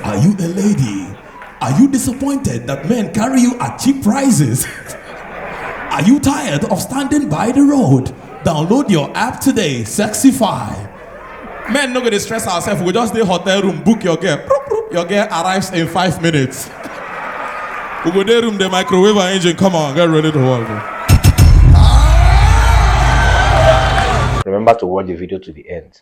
Are you a lady? Are you disappointed that men carry you at cheap prices? Are you tired of standing by the road? Download your app today, Sexify. Men no go dey stress ourselves, we just dey hotel room, book your girl. Proop, proop. Your girl arrives in five minutes. we go dey room, the microwave and engine, come on, get ready to work. bro. Remember to watch the video to the end.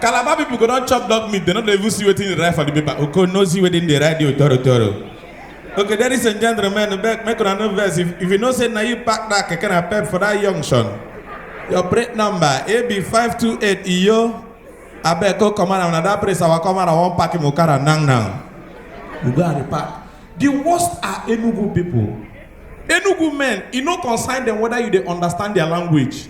calabar people go don chop dog meat they no dey even see wetin dey write for the paper oko no see wetin dey write there toro toro okay ladies and gentlemen make make una no vex if if you know say na you pack that keke na pep for that junction your plate number ab five two eight iyo abeg go comot am na that place our comot am wan pack him okada now now we go and repack the worst are enugu people enugu men e no concern them whether you dey understand their language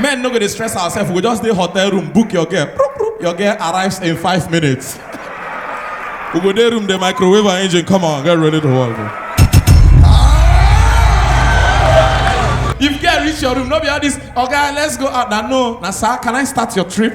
Men no go dey stress ourselves, we go just dey hotel room, book your girl. Proop, proop, Your girl arrives in five minutes. We go dey room, the microwave her engine, come on, get ready to work. bro. If girl reach your room, no be all this, okay, let's go out. Now, no, now, sir, can I start your trip?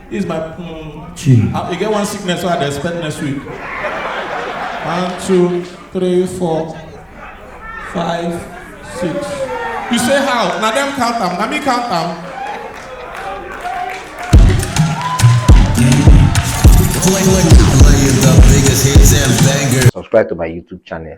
It's my um, Chill. I, I get one sickness so I dey expect next week. One, two, three, four, five, six. You say how? Na them count am, na me count am. Playing the biggest hits and bangers. subscribe to my YouTube channel.